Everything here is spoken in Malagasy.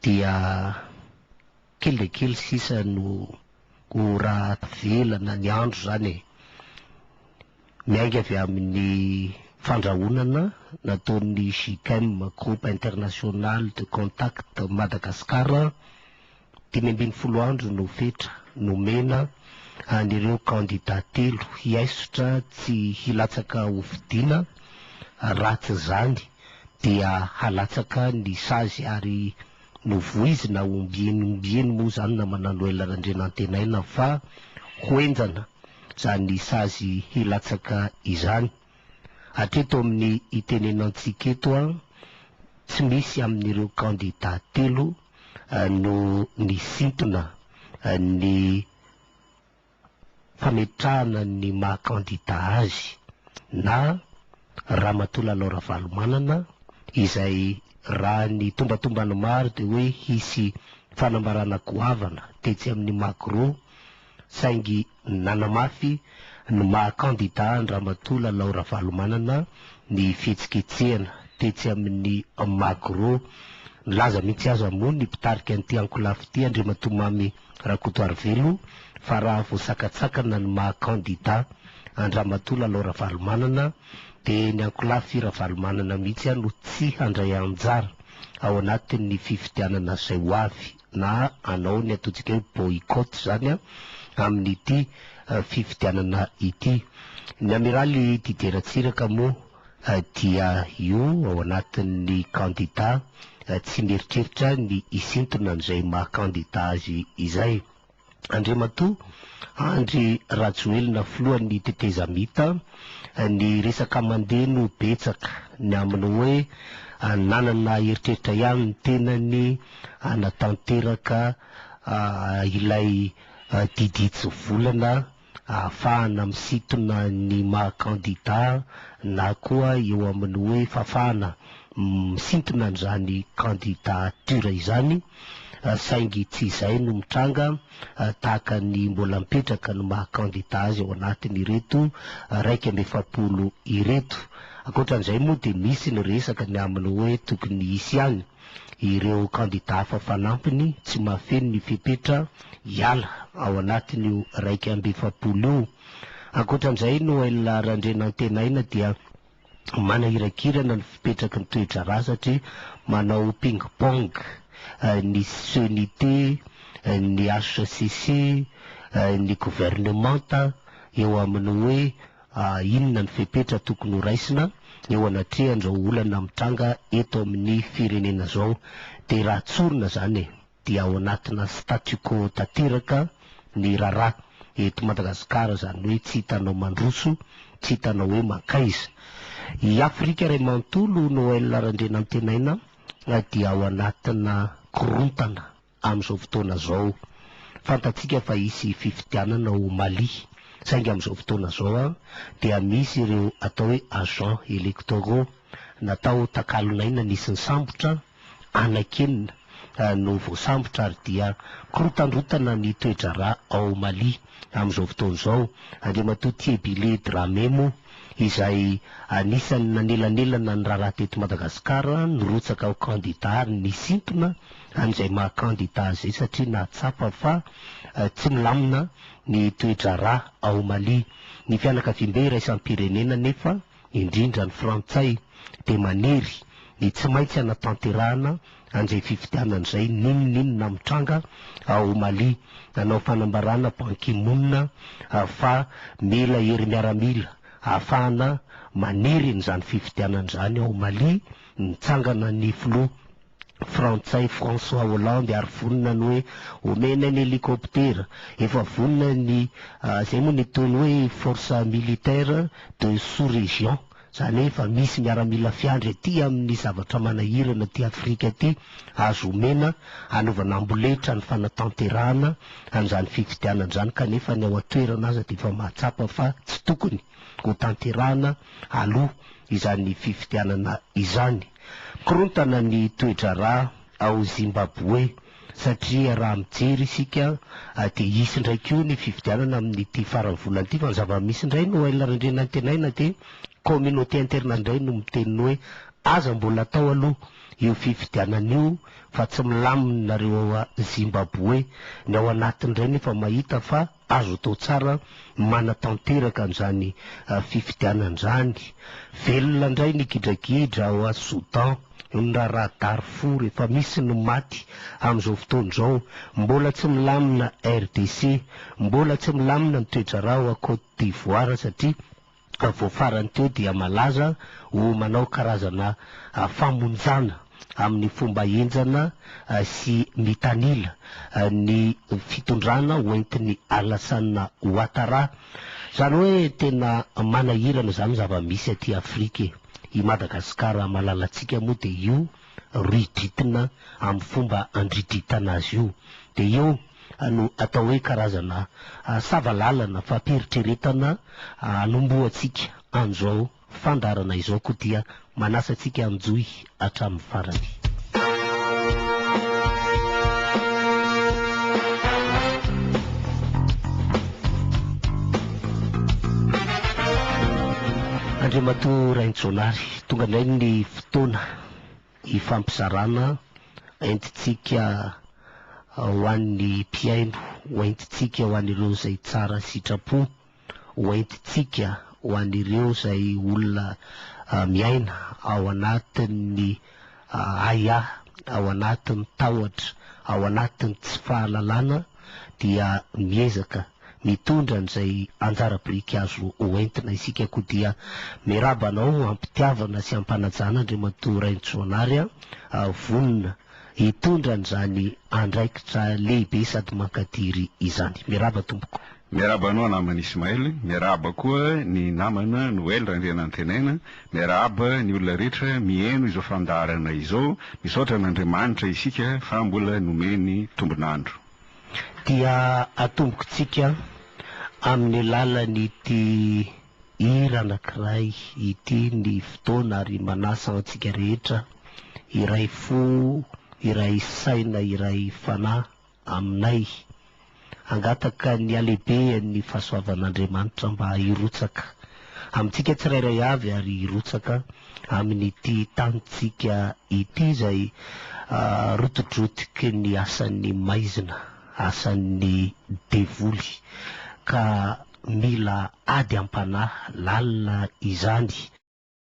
dia kely dia kely sisa no ho rahavelana ny andro izany e! Miainga avy amin'ny fandrahonana nataon'ny GICM, Groupe International de Contact Madagascar, Dimy ambin'ny folo andro no fetra nomena an'ireo kandidà telo hiaisotra tsy hilatsaka hofidiana, raha tsy izany dia halatsaka ny sazy ary novoizina ombieny ombieny moa izany namana Noël Randrianantenaina fa ho henjana izany sazy hilatsaka izany. Hatreto amin'ny itenenantsika eto, tsy misy amin'ireo kandidà telo no nisintona ny fametrahana ny maha kandida azy na Ramatoa Lalao Ravalomanana izay raha ny tombatombany maro dia hoe hisy fanambarana goavana tetsy amin'ny Magro saingy nanamafy ny maha kandida an-dRamatoa Lalao Ravalomanana ny fihetsiketsehana tetsy amin'ny Magro. Nilaza mihitsy aza moa ny mpitarika an'ity ankolafy ity, Andriamatoa Mamy Rakotoarivelo, fa raha voasakatsakana ny maha kandida an-dRamatoa Lalao Ravalomanana dia ny ankolafy Ravalomanana mihitsy no tsy handray anjara ao anatin'ny fifidianana izay ho avy. na hanao ny ataontsika hoe boycott izany amin'ity fifidianana ity. Ny Amiraly Didier Ratsiraka moa dia io ao anatin'ny kandida tsy mieritreritra ny hisintona an'izay maha kandida azy izay. Andriamatoa Andry Rajoelina filohan'ny tetezamita, ny resaka mandeha no betsaka, ny amin'ny hoe nanana eritreritra ihany ny tenany hanatanteraka ilay didy hitsivolana ahafahana misintona ny maha kandida na koa eo amin'ny hoe fafana misintona an'izany candidature izany saingy tsy izay no mitranga tahaka ny mbola mipetraka ny maha kandida azy ao anatin'ireto iraika amby efapolo ireto. Ankoatran'izay moa dia misy ny resaka ny amin'ny hoe tokony hisy ihany. ireo kandidà hafa fanampiny tsy mahafeno ny fepetra hiala ao anatin'io iraika amby efapolo io. Ankoatra an'izay, Noël Randrianantenaina dia manahirakirana ny fipetraky ny toe-draharaha satria manao ping-pong ny CNIT, ny hcc, ny governemanta eo amin'ny hoe. Inona ny fepetra tokony ho raisina eo anatrehan'izao olana mitranga eto amin'ny firenena izao? Dia raha tsorina izany e, dia ao anatina statu quo tanteraka ny raharaha eto Madagasikara, izany hoe tsy hitanao mandroso, tsy hitanao hoe mankaiza. I Afrika iray manontolo, Noël Randrianantenaina, dia ao anatina korontana. amin'izao fotoana izao. Fantatsika fa hisy fifidianana ao Mali, saingy amin'izao fotoana izao dia misy ireo atao hoe agents electoraux natao takalon'aina nisy nisambotra, anakenina no voasambotra ary dia korotandrotana ny toe-draharaha ao Mali amin'izao fotoana izao. Andriamatoa Thiebile Dramé moa izay anisan'ny nanelanelana ny raharaha teto Madagasikara, nirotsaka ho kandida ary nisintona an'izay maha kandida azy izay satria nahatsapa fa tsy milamina ny toe-draharaha ao Mali. Ny fianakaviambe iraisam-pirenena anefa, indrindra ny Frantsay, dia maniry ny tsy maintsy hanatanterahana an'izay fifidianana izay n'inon'inona mitranga ao Mali. Nanao fanambarana Ban Ki Moon fa mila hery miaramila ahafahana maniry an'izany fifidianana izany ao Mali nitsangana ny filoha. Frantsay François Hollande ary vonona ny hoe omena ny helicoptera. Efa vonona ny, izay moa ny ataony hoe force militaire de sous-région, izany hoe efa misy miaramila fiandry aty amin'ny zavatra manahirana aty Afrika aty, azo omena hanaovana amboletra ny fanatanterahana an'izany fifidianana izany kanefa ny ao an-toerana aza dia efa mahatsapa fa tsy tokony hotanterahana aloha izany fifidianana izany. Korontana ny toe-draharaha ao Zimbaboe satria raha mijery isika dia hisy indray koa ny fifidianana amin'ity faran'ny volana ity fa ny zava-misy indray Noël Randrianantenaina dia communauté internationale indray no miteny hoe aza mbola atao aloha io fifidianana io fa tsy milamina nareo ao Zimbaboe, ny ao anatiny indray nefa mahita fa. Azo atao tsara manatanteraka an'izany fifidianana izany. Velona indray ny gidragidra ao Soudan, noho ny raharaha Darfour, efa misy ny maty amin'izao fotoana izao. Mbola tsy milamina RDC, mbola tsy milamina ny toe-draharaha ao Côte d'Ivoire satria ka vao farany teo dia malaza ho manao karazana famonjana amin'ny fomba henjana sy mitanila ny fitondrana hoentin'i Alassane Ouattara. Izany hoe tena manahirana izany zava-misy aty Afrika e! I Madagasikara malalantsika moa dia io ridritina amin'ny fomba handridritana azy io dia io no atao hoe karazana sava lalana fampiheritreretana anombohantsika an'izao fandaharana izao koa dia manasa antsika hanjohy hatramin'ny farany. Andriamatoa Rainijaonary, tonga indray ny fotoana Hifampizarana aintintsika ho an'ny mpihaino, ho aintintsika ho an'ireo izay tsara sitrapo, ho aintintsika ho an'ireo izay olona miaina ao anatin'ny ahiahy, ao anatin'ny tahotra, ao anatin'ny tsy fahalalana dia miezaka mitondra an'izay anjara biriky azo ho entina isika koa dia miraba anao am-pitiavana sy am-panajana Andriamatoa Rainintsoanary a! vonona hitondra an'izany andraikitra lehibe sady mankadiry izany. Miraba tompoko. Miarahaba anao namana Ismaël, miarahaba koa ny namana Noël Randrianantenaina, miarahaba ny olona rehetra miheno izao fandaharana izao, misaotra an'Andriamanitra isika fa mbola nomeny tombon'andro. dia atombokintsika amin'ny alalan'ity hira anankiray ity ny fotoana ary manasa antsika rehetra hiray fo, hiray saina, hiray fanahy aminay hangataka ny halehibehan'ny fahasoavan'Andriamanitra mba hirotsaka Amintsika tsirairay avy ary hirotsaka amin'ity tanintsika ity izay rotidrotiky ny asan'ny maizina, asan'ny devoly, ka mila ady am-panahy lalina izany.